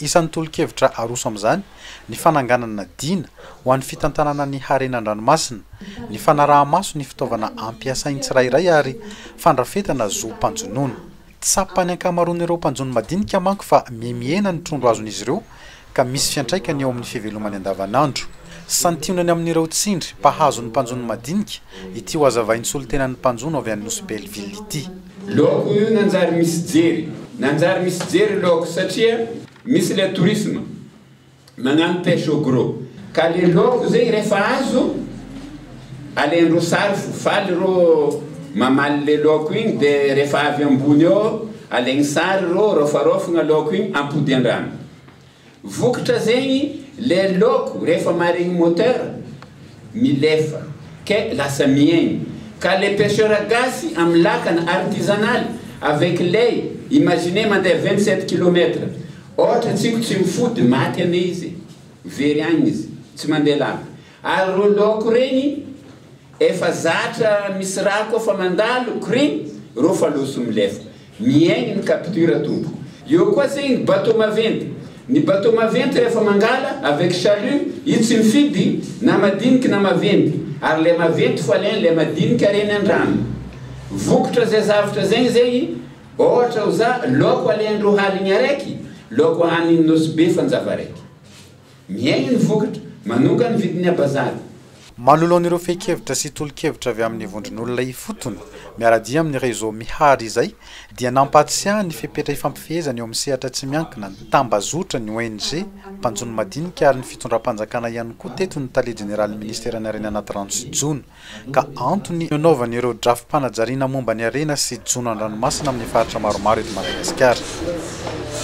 Isan'ny tolo-kevitra aroso amin'izany ny fananganana dina ho an'ny fitantanana ny harena an-dranomasina, ny fanaraha-maso ny fitaovana ampiasain'ny tsirairay ary fandrafetana zo mpanjonoana. Tsapan'ny ankamaroan'ireo mpanjono madinika manko fa mihemihena ny trondro azon'izy ireo ka misy fiantraikany eo amin'ny fivelomany andavanandro. Santionany amin'ireo tsindry mpahazo ny mpanjono madinika ity ho hazavain'ny solontenan'ny mpanjono avy any Nosy Belleville ity. Loko io nanjary misy jery. Nanjary misy jery loko satria misy le tourisme magnano pêche au gros ka le loko zegny refa azo alendro sary fo faly rô mamaly le loko igny de refa avy ambony eo alegny sary rô rôfarôfagna loko igny ampody andrano Vokatra zegny le loko rehefa marigny moteur milefa ke lasa miegny ka le pecheur gasy am lakana artisanal avec ley imaginez mandeha vingt sept kilomètre ohatra tsiko tsy mifody maty ane izy very agny izy tsy mandeha lava ary ro loko regny efa zatra misy rà koa fa mandalo krim ro fa loso milefa Mihaino ny capture tompoko. Eo koa zay ny bateau maventy. Ny bateau maventy rehefa mangala avec chalut io tsy mifidy na madiniky na maventy ary le maventy fo alain le madiniky ary eny andrano. Vokitra zay zavatra zay ny zay ohatra ho za laoko alain roa haligny araiky laoko hanin nosy be fanjava araiky. Mihaino ny vokatra. Manonga ny vidin'ny abazary. Manoloana ireo fehin-kevitra sy tolo-kevitra avy amin'ny vondron'olona ifotony, miara-dia amin'ny Réseau Mihary izay, dia nampahatsiahy ny fepetra ifampifehezana eo amin'ny sehatra tsy miankina ny tambazotra, ny ONG, mpanjono madinika ary ny fitondram-panjakana ihany koa teto ny Tale Jeneralin'ny Ministeran'ny Harena Anaty Rano sy Jono ka antony nanaovany ireo drafi-panajariana momba ny harena sy jono an-dranomasina amin'ny faritra maromaro eto Madagasikara.